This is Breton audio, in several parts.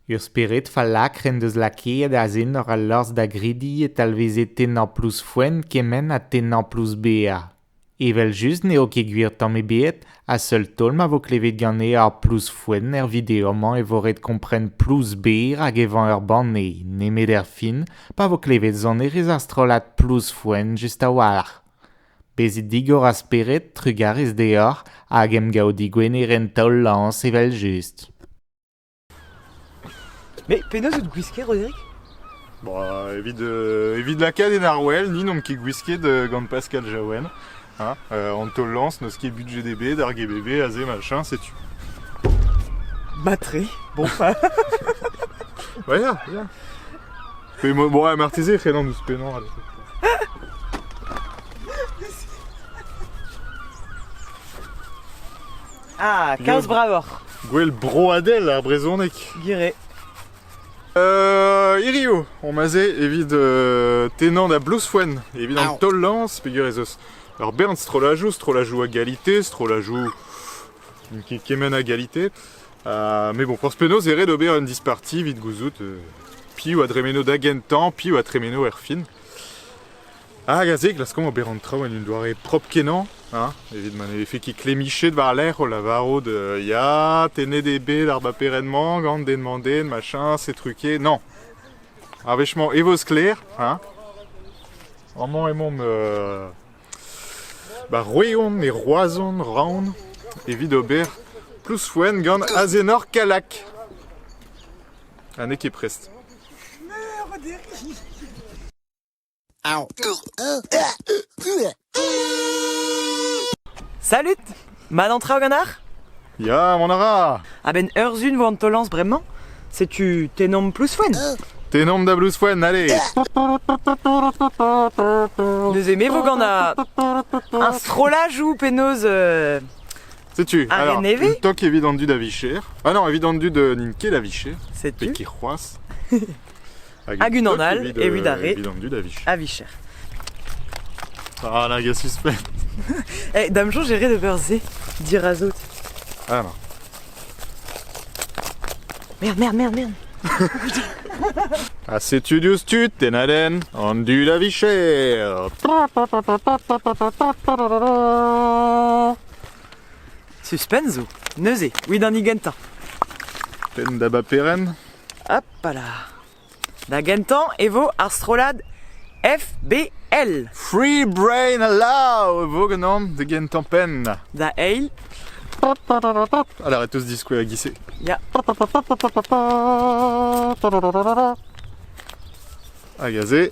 Ur spered fallakr en deus lakaet azen hor allorzh da grediñ e talveze tennañ plouz foen kement ha tennañ plouz bezañ. Evel-just n'eo ket gwir tamm ebet ha seul taol ma vo klevet ganet ar plouz foen er video-mañ e vo ret kompren plouz ber hag evañ ur banne, nemet erfin pa vo klevet sonerezh ar strollad plouz foen just a-walc'h. Bezit digor a spered, trugarez deoc'h hag emgav digwener en taol-lañs evel-just. Mais penaos out gwisket, Roderic Bon, evit, euh, evit lakaat en arwel, ni n'omp ket gwisket euh, gant Pascal Jaouen. Hein euh, an taol-lañs n'eus ket budgdb d'ar GBV, aze machin, setu. Matré, bon pas. ouais, yeah, yeah. Mais moi, bon, ouais, martezé, frenan nous penan. Allez. Ah, kalz bravoc'h. Gwell broadel ar brezhoneg. Gire. Euh, hiriv on ase evit euh, tennañ da Blousfoen evit an taol-lañs peger ez eus ur bern strollajoù strollajoù a galité strollajoù kement a galité uh, mais bon forzh penaos e red ober un disparti evit gouzout uh, piv a dremeno da gentañ piv a tremeno erfin Hag a se klaskomp ober an traoù en un doare propr-kenañ, hein, evit ma ne vefe ket klemmichet war-lerc'h o lavarout euh, ya, tennet eo bet ar baperenn-mañ gant den mañ den, machin, setu ket. Non. Ar wech-mañ e vo sklaer, hein. Amañ emaomp euh, ba Roeon e Roazhon, Raon, evit ober plouz-foenn gant azenor Kalak. Ha n'eo ket prest. Salut Mat an traoù ganar Ya, mont a ra A-benn ur zun vo an taol-lañs bremañ Setu Tenom Plouzfoen Tenom da Blouzfoen, allez Neuze me vo gant a... un strollaj ou penaos euh, Setu, Ar alors, nevez une toque evit an du da vicher Ah non, evit an du de n'int ket da vicher Setu Pe ki c'hoazh Hag unan all evit ar re a vicher. Ah, là, gars suspect. Eh, hey, dame j'ai ret d'ober ze, dirazout. Ah, non. Merde, merde, merde, merde. ha setu diouz tud tennaden an du da vicher. Suspense zo, neuze, oui d'an gentañ. Tenn da baperen Hopala ! Da gentañ e vo ar strollad FBL. Free Brain Allow e vo ganeomp da gentañ-penn. Da eil, Alors, on va tous discouer à glisser. il y a A gazé.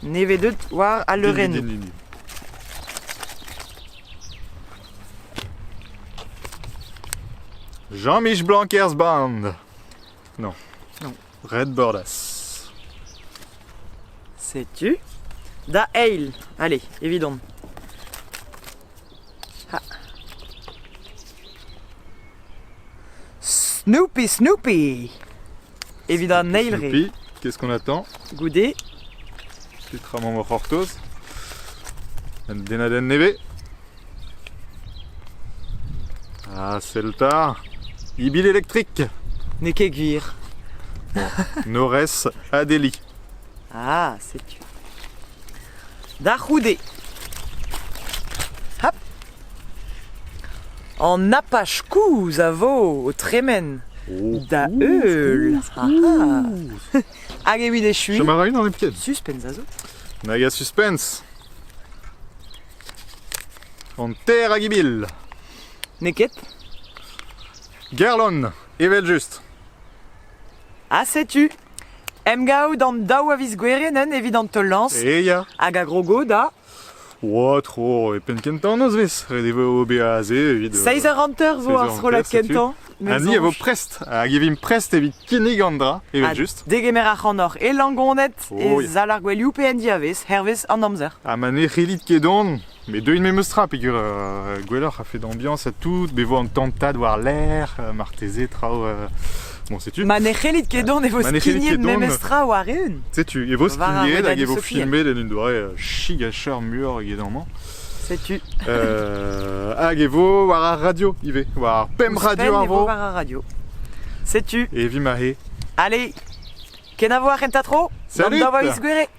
Nevedet war al leurennoù. Jean-Mich Blanquers Band. Non. Non. Red Bordas. Setu da eil. Allez, évidemment. Ah. Snoopy Snoopy Evit an eil re. Youpi, qu'est-ce qu'on attend Goude. Petra mamm o c'hortoz Un denadenn nevez Ah, Celta Ibil électrique N'eo ket gwir. Nores Adeli. Ah, setu. Da c'houde. An napach kouz a vo o tremen da heul. Hag evit echuiñ... Chom a ra unan hepken Suspense a zo. Nag a suspense An ter hag ibil Neket Gerlon Evel-just Ha setu Em gaout an daou a viz goueren evit an teulañs Hag a grogo da Oa tro e penn kentañ nozvezh. Ret e vo ober aze evit... Seiz eur hanter vo ar strollad kentañ. Ha ni a vo prest, hag e vimp prest evit kinnig an dra, evel-just. Degemer ac'hanoc'h e Langoned, e sal ar gouelioù pe en diavez, hervez an amzer. Ha ma ne c'hellit ket dont, me deuin memes tra, peger gwelloc'h a-fed ambiañs ha tout, bevo an tantad war-lerc'h, marteze traoù... Ma ne c'hellit ket dont e vo skignet memes tra war-eeun. Setu, e vo skignet hag e vo filmet en un doare euh, chigacheur muioc'h eget amañ. Setu. Euh, hag e vo war ar radio ivez, war ar PEM Radio ar vo. War ar radio. Setu. Et vimahe. Allez, ken a voir kenta tro. Salut. D'envoyer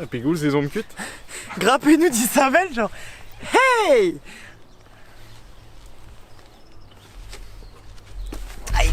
Ha pegoulz ez omp kuit? Gra pennoù disheñvel, genre Hey Aïe